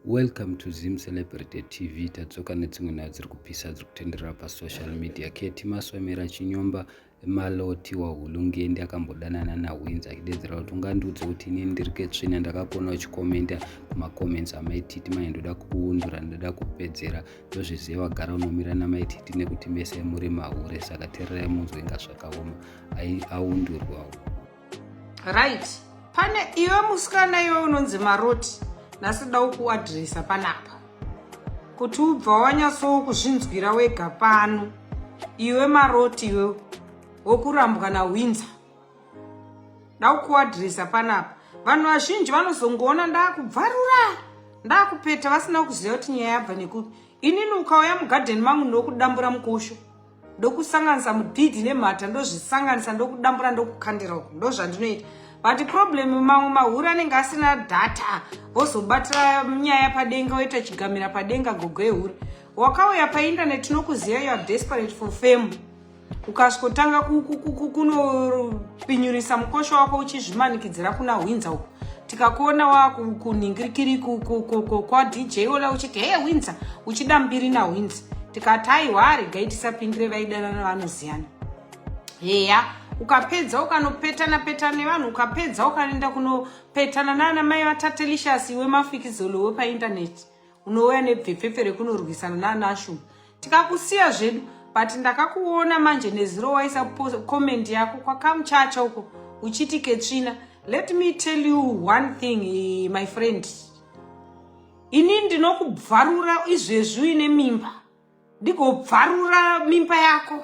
Welcome to Zim Celebrity TV tadzoka nedzimwe nyaya dziri kupisa dziri kutenderera pasocial media keti maswemera chinyomba maloti wahulungende akambodanana nahwinzi achidedzera kuti ungandiudze kuti ini ndiri ketsvina ndakakuona uchikomenda kumacomments amaititi manye ndoda kukuundura ndoda kupedzera ndozviziva vagara unomira namaititi nekuti mese muri mahure saka tererai munzwe inga zvakaoma aundurwawo right pane iwe musikana iwe unonzi maroti nhasi da ukuadresa panapa kuti ubva wanyatsowo kuzvinzwira wega pano iwe maroti iwe wokurambwa nawinza da ukuadresa panapa vanhu vazhinji vanozongoona ndakubvarura ndakupeta vasina kuziva kuti nyaya yabva nekuti inini ukauya mugadheni mangu ndokudambura mukosho ndokusanganisa mudhidhi nemhata ndozvisanganisa ndokudambura ndokukandira uku ndozvandinoita but problem mamwe mahuri anenge asina data wozobatira nyaya padenga woita chigamira padenga gogo ehuri wakauya painternet tinokuziva you are desperate for fame ukasvikotanga kunopinyurisa mukosho wako uchizvimanikidzira kuna hwinza uku tikakuona wakuningirikiri kwadj ola uchiti heye winza uchida mbiri nawinza tikati aiwa aregai tisapindire vaidanana vanoziyana heya ukapedza ukanopetana petana nevanhu ukapedza ukanoenda kunopetana naana mai vatatelicious iwe mafikizolo wepaindaneti unouya nebvepfepfe rekunorwisana nanashu tikakusiya zvedu but ndakakuona manje neziro waisa comment yako kwakamuchacha uko uchiti ketsvina let me tell you one thing eh, my friend ini ndinokubvarura izvezvi uine mimba ndigobvarura mimba yako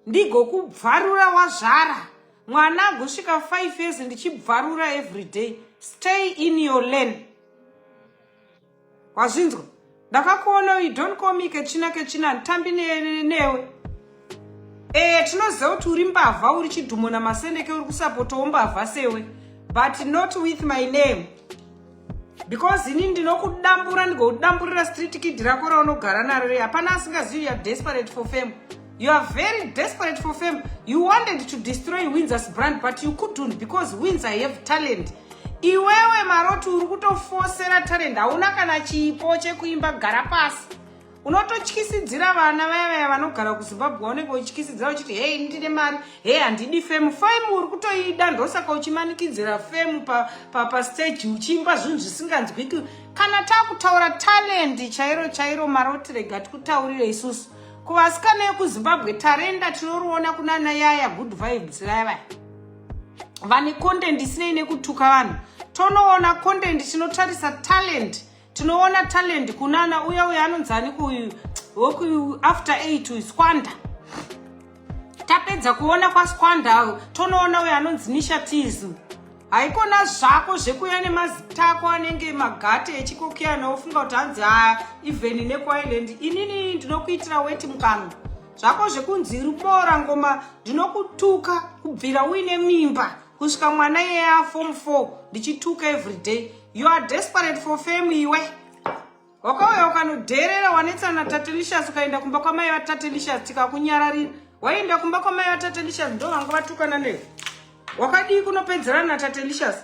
ndigokubvarura wazvara mwana agosvika 5 years ndichibvarura every day stay in your lane wazvinzwa ndakakuona you don't call me kechina kechina handitambi newe e tinoziva kuti uri mbavha uri chidhumo namasendeke uri kusapotawo mbavha sewe but not with my name because ini ndinokudambura ndigokudamburira street kid rako raunogara naro re hapana asingazivi youare desperate for fame you are very desperate for fame you wanted to destroy windsors brand but you couldn't because winds i have talent iwewe maroti uri kutofosera talent hauna kana chipo chekuimba gara pasi unototyisidzira vana vaya vaya vanogara kuzimbabwe waunenge uchityisidzira uchiti hei ndine mari hei handidi femu femu uri kutoida ndosaka uchimanikidzira femu papasteji pa, pa uchiimba zvinhu zvisinganzwiki kana takutaura talendi chairo chairo maroti rega tikutaurire isusu kuvasikana yekuzimbabwe tarenda tinoriona kunana yaya good vibes vaya vaya vane content isinei nekutuka vanhu tonoona content tinotarisa talent tinoona talent kunana uya uya anonzi aniko uyu woku after eight uyu squanda tapedza kuona kwasquanda tonoona uya anonzi nishatism haikona zvako zvekuya nemazita ako anenge magate echikokiyana wofunga kuti hanzi haa even nekuireland inini ndinokuitira weti mukanwa zvako zvekunzi iri kuboora ngoma ndinokutuka kubvira uine mimba kusvika mwana iyeye afom 4 ndichituka everyday you are desperate for fame iwe wakauya ukanodheerera wanetsa natatelicious ukaenda kumba kwamai vatatelicious tikakunyararira waienda kumba kwamai vatatelicious ndo vanga vatukana newe wakadii kunopedzerana natatelicious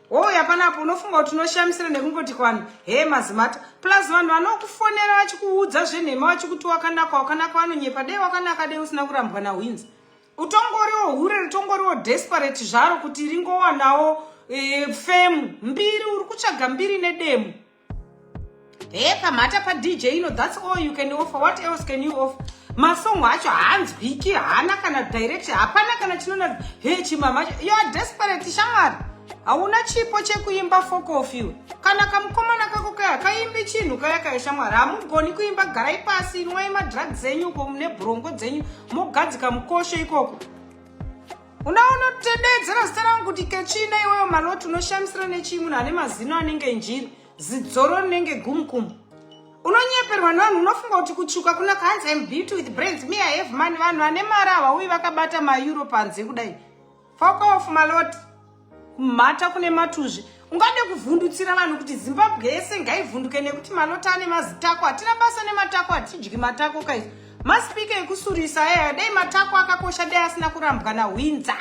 Hoi hapana apo unofunga kuti unoshamisira nekungoti kwanhu hee mazimata plus vanhu vanokufonera vachikuudza zvenhema vachikuti wakanaka wakanaka vanonyepa dei wakanaka dei usina kurambwa nahwinzi utongoriwo hure ritongoriwo desperate zvaro kuti ringowanawo e, femu mbiri uri kutsvaga mbiri nedemo Hey, pamhata pa DJ ino that's all you can offer. What else can you offer? Masongo acho haanzwiki, haana kana direction, hapana kana chinona hey chimama. You are desperate shamwari. Hauna chipo chekuimba fokof iwe. Kana kamukomana kako kaya kaimbi chinhu kaya kaya shamwari. Hamugoni kuimba garai pasi, inwai madrugs enyu uko mune brongo dzenyu mogadzika mukosho ikoko. unaona tededzera zita rangu kuti kechina iweyo maloti unoshamisira nechii munhu ane mazino anenge njiri zidzoro rinenge gumukumu unonyeperwa nevanhu unofunga kuti kutsvuka kuna kanzi im beauty with brands me i have money vanhu vane mari havauyi vakabata maeuro panze kudai fokof maloti kumhata kune matuzvi ungade kuvhundutsira vanhu kuti zimbabwe yese ngaivhunduke nekuti malota ane mazitako hatina basa nematako hatidyi matako kaizi maspika ekusurisa aya dai matako akakosha dai asina kurambwa nahwinza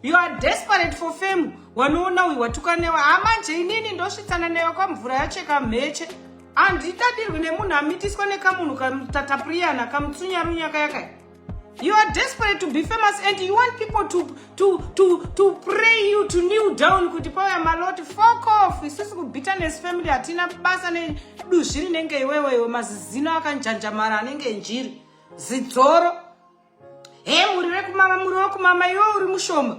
you are desperate for fame wanoona uyu watuka newe hamanje ah, inini ndosvitsana newe kwamvura yacheka mheche handitadirwi nemunhu amitiswa nekamunhu katatapuriyana kamutsunyarunyakayakaya You are desperate to be famous and you want people to, to, to, to pray you to kneel down kuti pauya maloti fuck off isusu kubitterness family hatina basa neduzvi rinenge iwewe iwe mazizino akanjanjamara anenge njiri zidzoro he muri vekumama muri wekumama iwe uri mushoma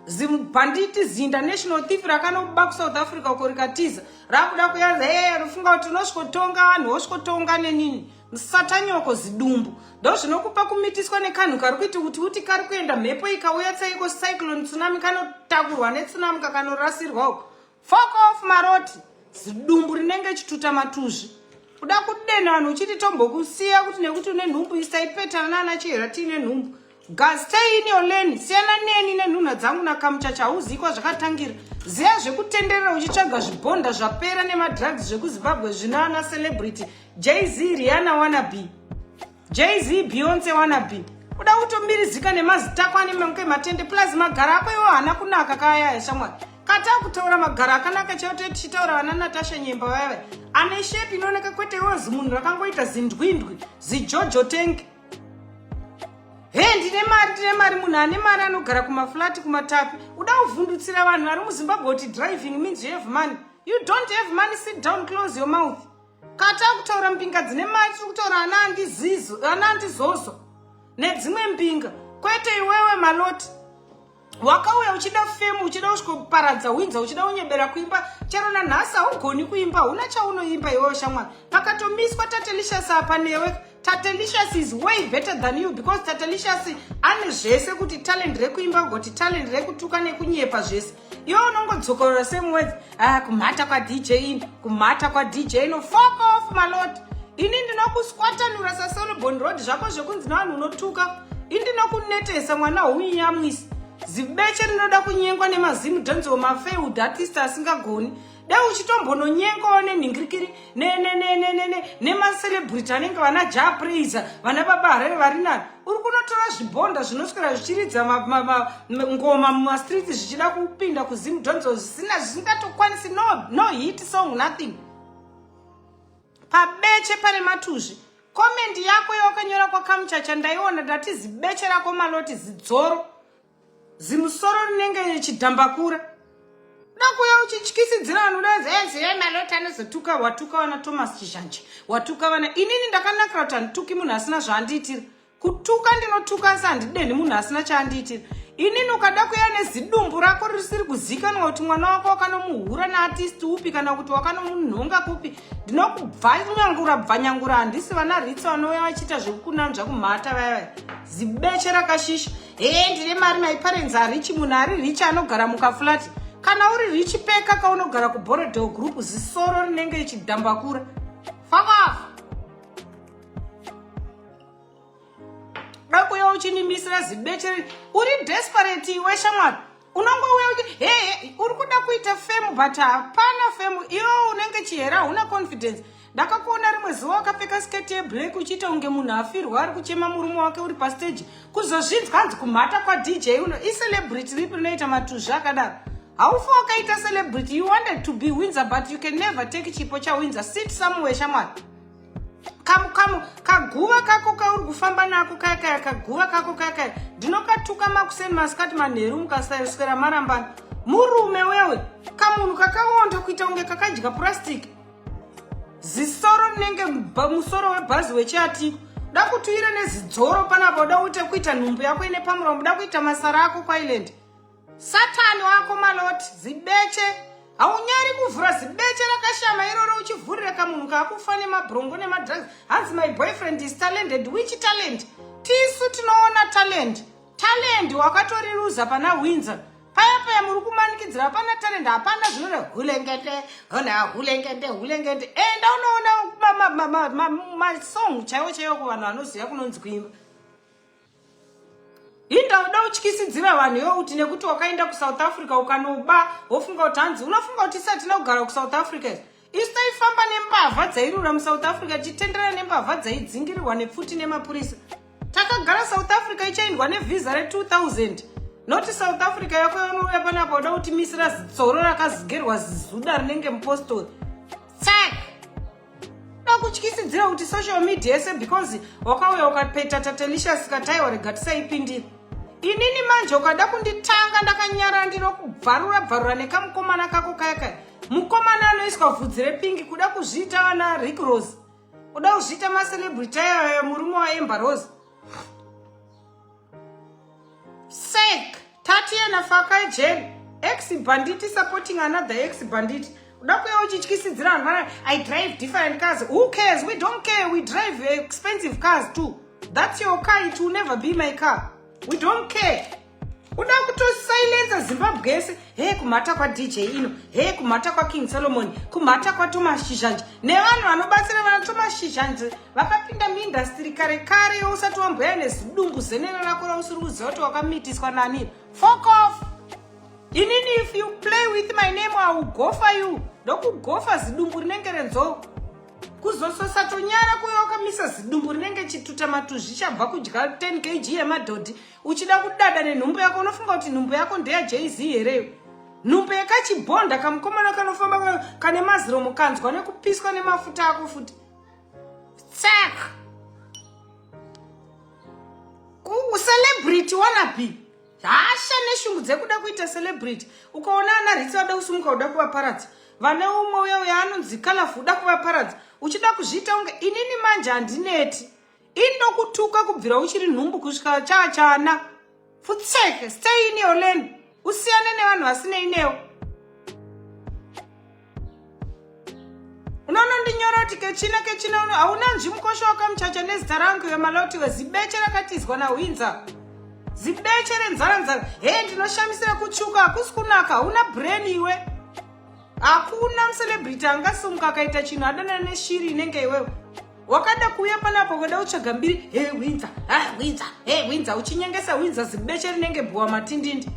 zimubhanditi ziinternational thief rakanoba kusouth africa uko rikatiza rakuda kuyaza ee rufunga kuti unosvikotonga vanhu wosvikotonga nenini musatanyoko zidumbu ndo zvinokupa kumitiswa nekanhu kari kuiti kuti uti kari kuenda mhepo ikauya tsaiko cyclone tsunami kanotakurwa netsunami kakanorasirwa uko Fuck off maroti zidumbu rinenge chituta matuzvi kuda kudena vanhu uchiti tombokusiya kuti nekuti une nhumbu isaipetana naana chihera tiine nhumbu gastay in your lane siyana neni nenhunha dzangu nakamuchacha hauzikwa zvakatangira ziya zvekutenderera uchitsvaga zvibhonda zvapera nemadrugs zvekuzimbabwe zvina ana celebrity jz riana wanabe jz beyonce wanabe uda kutomirizika nemazita ako ane manke matende plus magara ako iwo haana kunaka kaayaya shamwari kataa kutaura magara akanaka chaoto tichitaura vana natasha nyemba vayava ane shepi inooneka kwete iwo zimunhu rakangoita zindwindwi zijojo tank he ndine mari ndine mari munhu ane mari anogara kumaflati kumatapi uda kuvhundutsira vanhu vari muzimbabwe kuti driving means you have money you don't have money sit down close your mouth Kata kutaura mbinga dzine mari tiri kutaura ana andizizo ana andizozo nedzimwe mbinga kwete iwewe maloti wakauya uchida femu uchida kusvikoparadza winza uchida unyebera kuimba chero nanhasi haugoni kuimba huna chaunoimba iwewe shamwari pakatomiswa tatelishasa apa newe Tatelicious is way better than you because Tatelicious ane zvese kuti talent rekuimba kugoti talent rekutuka nekunyepa zvese iwe unongodzokorora same words ah, kumhata kwadj in kumhata kwadj ino fok off malot ini ndinokuswatanura sasolobon road zvako zvekunzi navanhu unotuka ini ndinokunetesa mwana hounyamwisi zibeche rinoda kunyengwa nemazimu dhanzi wemafailed artist asingagoni dai uchitombononyengawo nenhingirikiri nemacelebrity anenge vana ja praiser vana baba harere vari nani uri kunotora zvibhonda zvinoswera zvichiridza ngoma mumastreets zvichida kupinda kuzim donzo zvisina zvisingatokwanisi no hit song nothing pabeche pane matuzvi komendi yako yawakanyora kwakamuchacha ndaiona ndati zibeche rako maloti zidzoro zimusoro rinenge chidhambakura dakuya uchityisidzira vanhu udaziye malota anozotuka watuka vana thomas chizhanje watuka vana inini ndakanakira kuti handituki munhu asina zvaandiitira kutuka ndinotuka asi handidenhi munhu asina chaandiitira inini ukada kuya nezidumbu rako risiri kuzikanwa kuti mwana wako wakanomuhura naatisti upi kana kuti wakanomunhonga kupi ndinokubvanyangura bvanyangura handisi vana ritsi vanouya vachiita zvekukunanzva kumhata vayavaya zibeche rakashisha hee ndine mari my parents harichi munhu ari richi anogara mukafulati kana uri richi peka kaunogara kuborodel group zisoro rinenge ichidhambakura fakafa dakuya uchinimisira zibechere uri desperate iwe shamwari unongouya uti hee uri kuda kuita femu but hapana femu iyo unenge chihera hauna confidence ndakakuona rimwe zuva wakapfeka sketi yeblack uchiita kunge munhu afirwa ari kuchema murume wake uri pasteji kuzozvinzwa hanzi kumhata kwadj uno icelebrity ripi rinoita matuzvi akadaro haufa wakaita celebrity you wanted to be winzer but you can never take chipo chawinzer sit somewhere shamwari kamu kamu kaguva kako kauri kufamba nako kaya kaya kaguva kako kaya kaya ndinokatuka makuseni masikati manheru mukasaswera marambana murume wewe kamunhu kakawonda kuita kunge kakadya purastic zisoro rinenge musoro webhazi wechiatiko da kuti uire nezidzoro panapa uda uite kuita nhumbu yako ine pamuromo uda kuita masara ako kwailand satani wako malot zibeche haunyari kuvhura zibeche rakashama iroro uchivhurira kamunhu kakufa nemabrongo nemadrugs hanzi my boyfriend is talented which talent tisu tinoona talent talent wakatoriruza pana winzer paya paya muri kumanikidzira hapana talent hapana zvinore hulengende hona hulengende hulengende enda unoona masong chaiwo chaiwo kuvanhu vanoziva kunonzi kuimba Linda uda utyisidzira vanhu iwe kuti nekuti wakaenda kusouth africa ukanoba wofunga kuti hanzi unofunga kuti isatina kugara kusouth africa isu taifamba nembavha dzairura musouth africa tichitenderera nembavha dzaidzingirirwa nepfuti nemapurisa takagara south africa ichaindwa nevhiza re2000 noti south africa yako yanouya panapa uda kuti misira zitsoro rakazigerwa zizuda rinenge mupostori tsak vakutyisidzira kuti social media yese because wakauya ukapeta tatelicious katai warega tisaipindira inini manje ukada kunditanga ndakanyarara ndinokubvarura bvarura nekamukomana kako kaya kaya mukomana anoiswa vhudzi repingi kuda kuzviita vana rick rose uda kuzviita macelebrity ayayo murume waemba rose sek tatie na fakai jeri ex banditi supporting another ex banditi uda kuya uchityisidzira vanhu vana i drive different cars who cares we don't care we drive expensive cars too that's your car it will never be my car we don't care uda kutosilenza zimbabwe yese he kumhata kwadj ino he kumhata kwaking solomon kumhata kwatomas chizhanji nevanhu vanobatsira vana tomas chizhanji vakapinda muindastiri kare kare yousati wamboya nezidungu zenero rako rausiri kuziva kuti wakamitiswa nani fokof inini if you play with my name augofa you ndokugofa zidumbu rinenge renzou kuzososatonyara kuyo wakamisa zidumbu rinenge chituta matuzvi chabva kudya 10 kg yemadhodhi uchida kudada nenhumbu yako unofunga kuti nhumbu yako ndeya jz hereyo nhumbu yekachibhonda kamukomana kanofamba kane maziro mukanzwa nekupiswa nemafuta ako futi Tsak. Ku celebrity wanapi? Hasha neshungu dzekuda kuita celebrity. Ukaona ana ritsi vada kusumuka uda kuvaparadza. Vane umwe uya uya anonzi colorful uda kuvaparadza. Uchida kuzviita unge inini manje handineti. inokutuka kubvira uchiri nhumbu kusvika chaachana futseke stay in your lane usiyane nevanhu vasinei newo unonondinyoroti kechina kechina uno hauna nzvi mukosho wakamuchacha nezita rangu yomaloti wezibeche rakatizwa nahwinza zibeche renzara nzara he ndinoshamisira kutsvuka hakusi kunaka hauna brain iwe hakuna mucelebrity angasumuka akaita chinhu adanana neshiri inenge iwewe wakada kuuya panapa ukada kutsvaga mbiri he winza ha winza he winza uchinyengesa winza zibeche rinenge bhuwa matindindi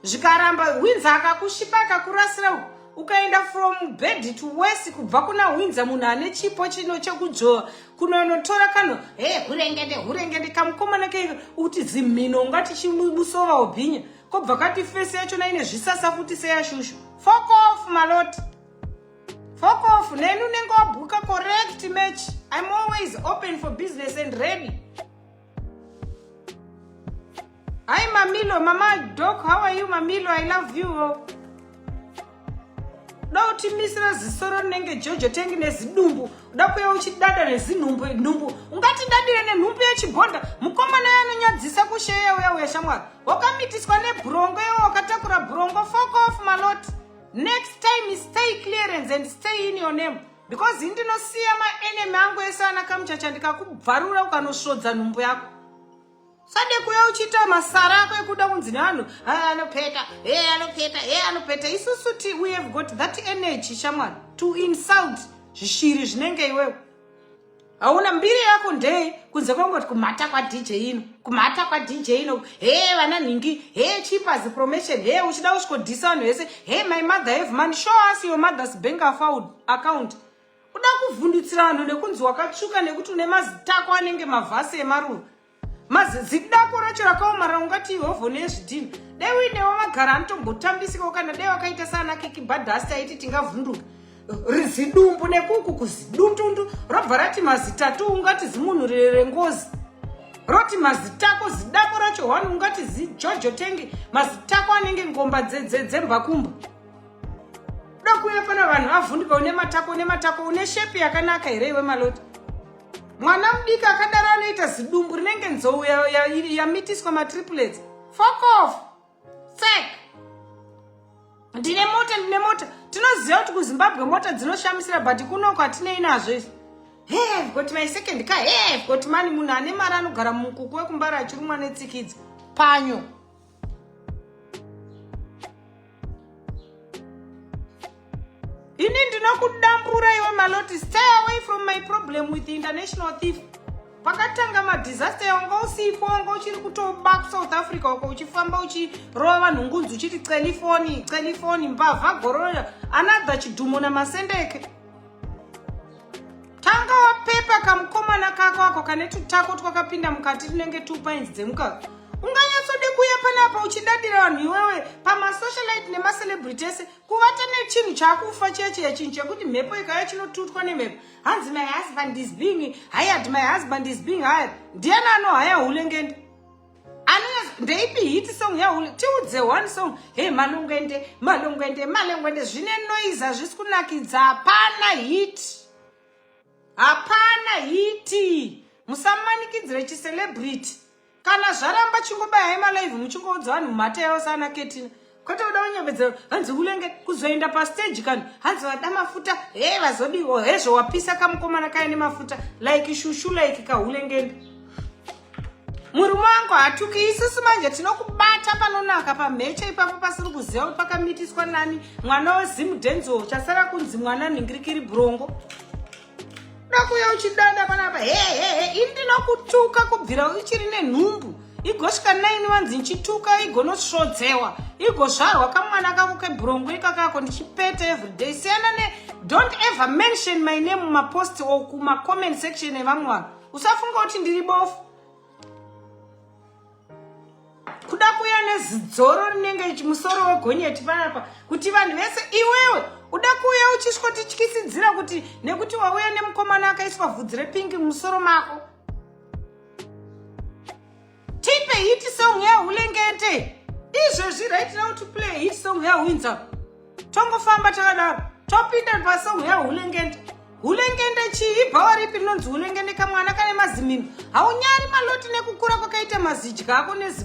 zvikaramba winza akakushipa akakurasira ukaenda from bed to west kubva kuna winza munhu ane chipo chino chekudzvova kunonotora kano he hurengende hurengende kamukomana ke uti zimhino ungati chimusova ubhinya kobva kati fesi yachona ine zvisasa futi seyashushu fokof maloti Fuck off, neni unenge wabhuka correct match. I'm always open for business and ready. Hi Mamilo, Mama Doc, how are you Mamilo? I love you. Uda kutimisira zisoro rinenge Jojo tengi nezidumbu. Uda kuya uchidada nezinhumbu nhumbu. Ungati dadire nenhumbu yechigonda. Mukomana yanonyadzisa kusheya uya uya shamwari. Wakamitiswa nebrongo iwe wakatakura brongo. Fuck off Maloti. next time stay clearance and stay in your name because ini ndinosiya maenemy angu ese ana kamuchacha ndikakubvarura ukanosvodza nhumbu yako sade kuya uchiita masara ako ekuda kunzi nevanhu ah, anopeta e eh, anopeta e eh, anopeta isusu ti we have got that energy shamwari to insult zvishiri zvinenge iwewe hauna mbiri yako ndee kunze kwangoti kumhata kwadj ino kumhata kwadj ino hee vana nhingi hee chipas promotion hee uchida usvikodhisa vanhu vese hee my mother have money show us your mother's bank account kuda kuvhundutsira vanhu nekunzi wakatsvuka nekuti une mazitako anenge mavhasi emaruva mazizidako racho rakaomara ungati ihovho nezvidhini dai uinewo vagara anotombotambisikawo kana dai wakaita saana kekibhadhasi taiti tingavhunduka rizidumbu nekuku kuzidundundu robva rati mazitatu ungati zimunhu rengozi roti mazitako zidako racho one ungati zijojo tenge mazitako anenge ngomba dzembakumba dokuya pana vanhu avhunduka une matako une matako une shepi yakanaka here iwe maloti mwana mudiki akadaro anoita zidumbu rinenge nzou yamitiswa matriplets fokof sek ndine mota ndine mota tinoziva kuti kuzimbabwe mota dzinoshamisira but kunoko hatinei nazvo izvi hey got my second car hey got mani munhu ane mari anogara mumukuku wekumbara achirumwa netsikidzo panyo ini ndinokudambura iwe maloti stay away from my problem with the international thief pakatanga madisaster yawanga usipo wanga uchiri kutoba kusouth africa uko uchifamba uchirova vanhu ngunzi uchiti celifoni celifoni mbavha gorora another chidhumo namasendeke tanga wapepa kamukomana kako ako kane tutako twakapinda mukati tunenge two pines dzemukaka unganyatsode kuuya panapa uchidadira vanhu iwewe pamasocialite nemacelebrity ese kuvata nechinhu chakufa chiya chiya chinhu chekuti mhepo ikaya chinotutwa nemhepo hanzi my husband is being hired my husband is being hired ndiyani anohaya hulengende ndeipi hit song yahule tiudze one song hey malungwende malungwende malungwende zvine noise hazvisi kunakidza hapana hit hapana hiti musamanikidzire chicelebrity kana zvaramba chingobayai malive muchingoudzwa vanhu mhata yavo sana ketina kwete kuda kunyemedzero hanzi ulenge kuzoenda pastage kani hanzi vada mafuta he vazodiwo hezvo wapisa kamukomana kaya nemafuta like shushu like kahulengende murume wangu hatuki isusu manje tinokubata panonaka pamheche ipapo pasiri kuziva kuti pakamitiswa nani mwana wezimudhenzo chasara kunzi mwana nhingirikiri brongo ndakuya uchidada panapa hehehe ini ndinokutuka kubvira uchiri nenhumbu igosvika naini vanzi ndichituka igonosvodzewa igozvarwa kamwana kako kebhurongo ikakako ndichipeta everyday siyana ne don't ever mention my name mumapost or kumacomment section evamwe vanhu usafunga kuti ndiri bofu kuda kuya nezidzoro rinenge musoro wegonyeti panapa kuti vanhu vese iwewe uda kuuya uchisvotityisidzira kuti nekuti wauya nemukomana akaiswa vhudzi repingi mumusoro mako tipe hit song yahulengete izvezvi right now to play hit song yahwinza tongofamba takadaro topinda pasong yahulengende hulengende chii ibhawa ripi rinonzi hulengende kamwana kane mazimino haunyari maloti nekukura kwakaita mazidya ako nezi